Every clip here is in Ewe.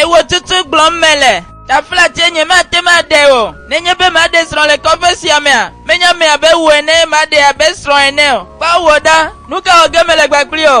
Ewo tutu gblɔm mele. Tafla tie nye mate ma ɖe o. Nenye be maɖe srɔ̃ le kɔƒe sia mea, menye ame abe wò ene maɖe abe srɔ̃ ene o. Kpɔ wò ɖa, nu ka wɔ ge mele gbagblii o?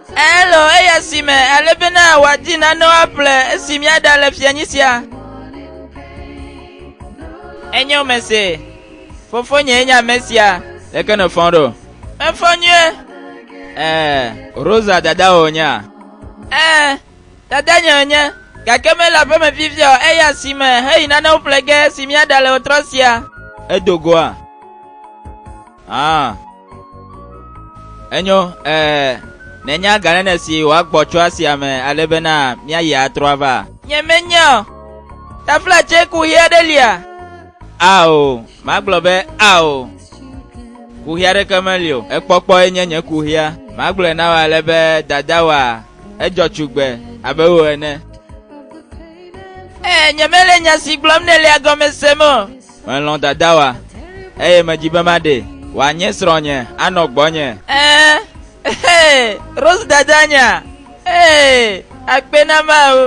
Elo eya si me ale bena wòadi nanewo aƒle esi míaɖa le fianyi sia. Enye wome se. Fofonye nye ame sia. Leke nèfɔ ɖo? Mefɔ nyuie. Ee, Rosa dadawò nye a? Ee, dadanye nye, gake mele aƒe me fifia o, eya si me heyi nanewo ƒle ge esi míaɖa le ɣetrɔ sia. Edo goa? Ã, enyo, ɛɛ, nenye aganene si wòagbɔ tso asia me ale bena míayi atrɔ ava. Nyemenya o. Taflatse kuxi aɖe lia? Ao, magblɔ be ao. Kuxi aɖeke meli o. Ekpɔkpɔe nye nye kuxia. Magblɔe na wò ale be dadawòa, edzɔ tsugbe abe wò ene. Ɛɛ, nyemele nya si gblɔm nèlea gɔme sem o. Melɔ̃ dadawa, eye medi be maɖee. Wòanye srɔ̃nye, anɔ gbɔnye. Ɛɛ, ɛhɛ, Rose dadanya, ɛɛ, akpe na Mawu.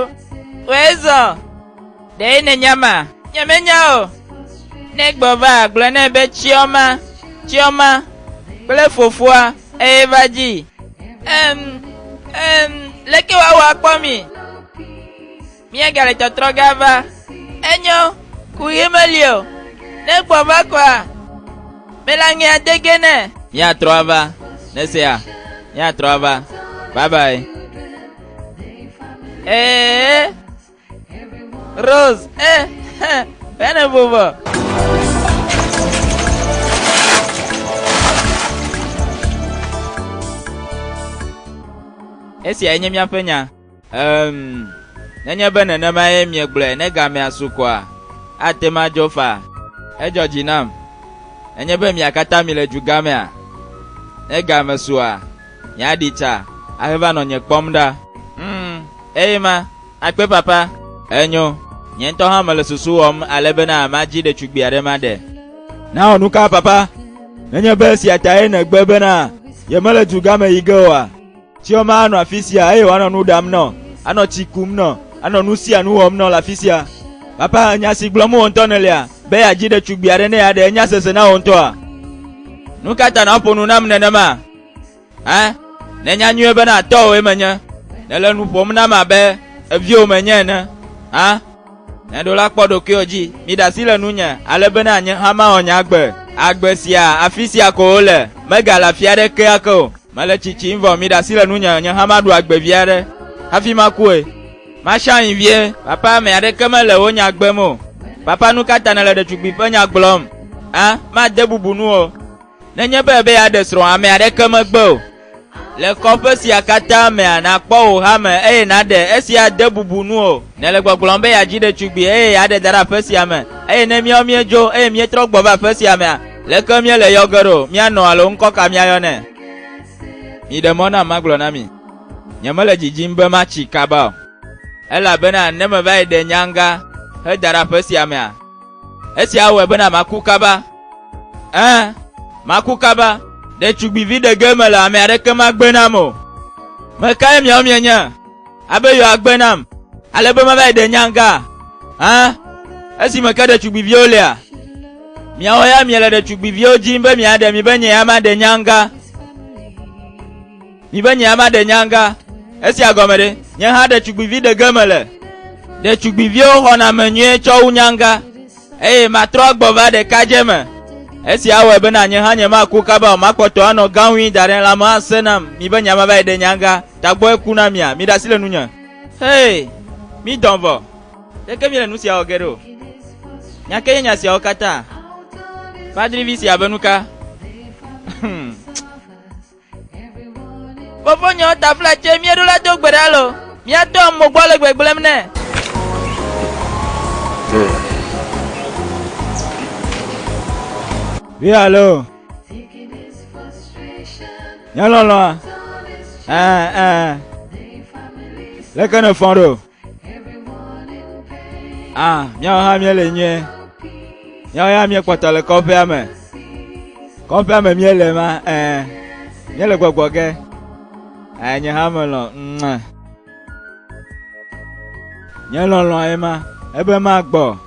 Wɔe zɔ. Ɖee nènya ma? Nyemenya o. Ne gbɔva, gblɔ nɛ be Chioma, Chioma, kple fofoa, eye va dzii. Ɛm, ɛm, leke woawɔ akpɔ mi? Míegale tɔtrɔ ge ava. Enyo, ku ɣi meli o. Ne gbɔ va kɔa, mele aŋe ade ge nɛ. Míatrɔ ava, ne sea, míatrɔ ava. Bye bye. Ee, Rose, eh, hã, bene vovɔ. Esia enye míaƒe nya. Ɛ̃, nenye be nenemae miegblɔe ne gamea su koa, ate ŋu adzɔ faa. Edzɔ dzi nam. Nenye be mia katã mile dugamea, ne game sua, miaɖi tsa ahe va nɔ nye kpɔm ɖa. Ŋ, eye ma, akpe papa. Enyo. Nye ŋutɔ hã mele susu wɔm ale bena madzi ɖetugbui aɖe maɖe. Nao nuka, papa? Nenye be esia tae nègbe bena yemele dugame yi ge oa? Tsiɔ ma anɔ afi sia eye wòanɔ nu ɖam nɔ, anɔ tsi kum nɔ, anɔ nu sia nu wɔm nɔ le afi sia. Papa, nya si gblɔm wò ŋutɔ nèlia, be yeadzi ɖetugbui aɖe ne yeaɖe nya sese na wò ŋutɔa? Nu ka ta nàƒo nu nam nenema? Ẽ, nènya nyuie bena tɔwòe menye. Nèle nu ƒom nam abe eviwò menye ene. Ẽ, nèɖo la kpɔ ɖokuiwò dzi. Miɖe asi le nunye, ale bena nye hã mawɔ nye agbe. Agbe sia, afi sia ko wole, megale afi aɖeke ake o. Mele tsitsim vɔ miɖe asi le nunye, nye hã maɖu agbe vi aɖe hafi makue. Masha ŋi vie. Papa, ame aɖeke mele wò nya gbem o. Papa, nu ka ta nèle ɖetugbui ƒe nya gblɔm? Ã, made bubu nu o. Nenye be èbe yeaɖe srɔ̃, ame aɖeke megbe o. Le kɔƒe sia katã mea, nàkpɔ wò ha me eye nàɖe. Esia de bubu nu o. Nèle gbɔgblɔm be yeadzi ɖetugbui eye yeaɖe da ɖe aƒe sia me, eye ne míawo míedzo eye míetrɔ gbɔ va aƒe sia mea, Leke míele yɔ ge ɖo? Míanɔ alo ŋkɔ ka míayɔ nɛ? Miɖe mɔ nam magblɔ na mi. Nyemele dzidzim be matsi kaba o. Elabena ne meva yi ɖe nyaŋga heda ɖe aƒe sia mea, esia awɔe bena maku kaba. Ẽ, maku kaba. Ɖetugbivi ɖe ge mele, ame aɖeke magbe nam o. Mekae miawo mienye? Abe yewoa gbe nam ale be mava yi ɖe nya ŋga hã esime ke ɖetugbiviwo lia? Miawo ya miele ɖetugbiviwo dim be miaɖe mi be nye ya maɖe nya ŋga. Mi be nye ya maɖe nya ŋga. Esia gɔme ɖe? Nye hã ɖetugbivi ɖe ge mele. Ɖetugbiviwo xɔna ame nyuie tsɔ wu nya ŋga. eye matrɔ agbɔ va ɖekadze me. Esi awɔe be na nye hã nyemaku kaba o, makpɔtɔ anɔ gãwui da ɖe lãme ase nam, mi be nyama va yi ɖe nyanga, tagbɔ eku na mia, mi ɖe asi le nunye. Hee, mi dɔn vɔ, ɖeke mi le nu sia wɔ ge ɖe o. Nya ke nye nya siawo katã? Padrivi sia be nuka? Fofonye wo tafla tse míeɖo la do gbe ɖa lo. Míatɔ mo gbɔ le gbegblẽm nɛ. Vi alo. Nyɔlɔlɔa. Ɛɛ ɛɛ. Leke ne fɔn ɖo? Ah, míawo hã míele nyuie. Míawo ya míekpɔtɔ le kɔƒea me. Kɔƒea me míele ma, eh, míele gbɔgbɔ ge. Eh, nye hã melɔ, mua. Nye lɔlɔ ye ma, ebe magbɔ.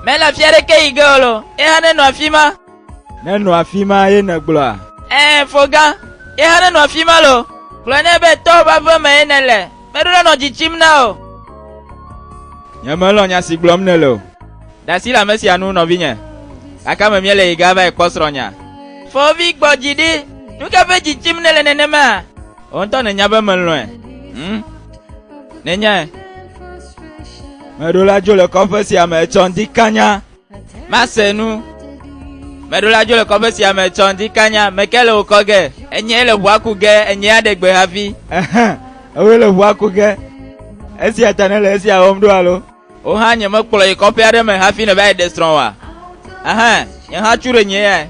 Mele afi aɖeke yi ge o lo, ye hã nenɔ afi ma. Nenɔ afi ma ye nègblɔa? Eh, fo gã, ye hã nenɔ afi ma lo. Gblɔ nɛ be tɔwo ƒe aƒe me ye nèle. Meɖo la nɔ dzi tsim na o. Nyemelɔ̃ nya si gblɔm nèle o. Ɖe asi le ame sia ŋu nɔvinye. Gake ame míele yi ge ava yi kpɔ srɔ̃nye. Fɔvi gbɔ dzi ɖi. Nu ka ƒe dzi tsim nèle nenema? Wò ŋutɔ nènya be melɔ̃e. Hm, nènyae. Meɖo la dzo le kɔƒe sia me etsɔ ŋdi kanya. Mase nu. Meɖo la dzo le kɔƒe sia me tsɔ ŋdi kanya meke le wòkɔ ge. Enye le ʋua ku ge, enye aɖe gbe hafi. Ewe le ʋua ku ge. Esia ta ne le esia wɔm ɖo alo? Wo hã nye mekplɔ yi kɔƒe aɖe me hafi ne va yi ɖe srɔ̃ wa. Aha, nye hã tsu ɖe nye ya.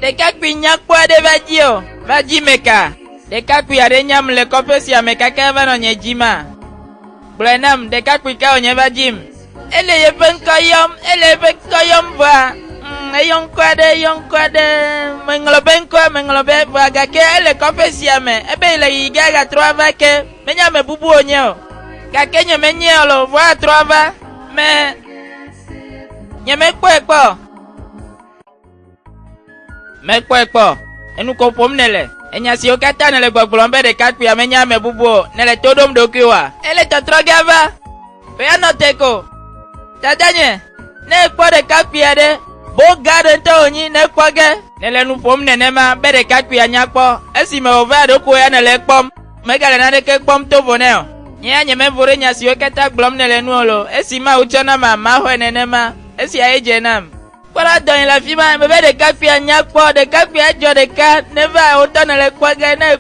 Ɖekakpui nyakpɔ aɖe va dzi o, va dzi meka. Ɖekakpui aɖe nyam le kɔƒe sia me kake eva nɔ nye dzi ma. Gblɔe nam, ɖekakpui ka wònye va dzim. Ele yeƒe ŋkɔ yɔm, ele yeƒe ŋkɔ yɔm vɔa, mm, eyɔ ŋkɔ aɖe, eyɔ ŋkɔ aɖe, meŋlɔ be ŋkɔ, meŋlɔ be vɔa gake ele kɔƒe sia me, ebe le yi ge agatrɔ ava ke, menye ame bubu wònye o. Gake nye menye o lo, vɔa atrɔ ava, me, nyemekpɔe kpɔ o. Mekpɔe kpɔ, enu ko ƒom nèle. Enya siwo katã nèle gbɔgblɔm be ɖekakpuia menye ame bubu o, nèle to ɖom ɖokuiwòa? Ele tɔtrɔ ge va be yeanɔ te ko. Dadanye, ne èkpɔ ɖekakpui aɖe, boga aɖe ŋutɔ wònyi ne ekpɔ ge. Nèle nu ƒom nenema be ɖekakpuia nya kpɔ, esime wòva ɖokuiwò ya nèle ekpɔm, megale naneke kpɔm to vo nɛ o. Nye ya nyemevo ɖe nya siwo katã gblɔm nèle nu o loo, esi Mawu tsɔ nam ameaxɔe nenema, esia ye dze nam. Kpɔ ɖa dɔ yi le afi ma. Mebe ɖekakpuia nya kpɔ. Ɖekakpuia edzɔ ɖeka. Neva wotɔ nele kpɔ ge ne.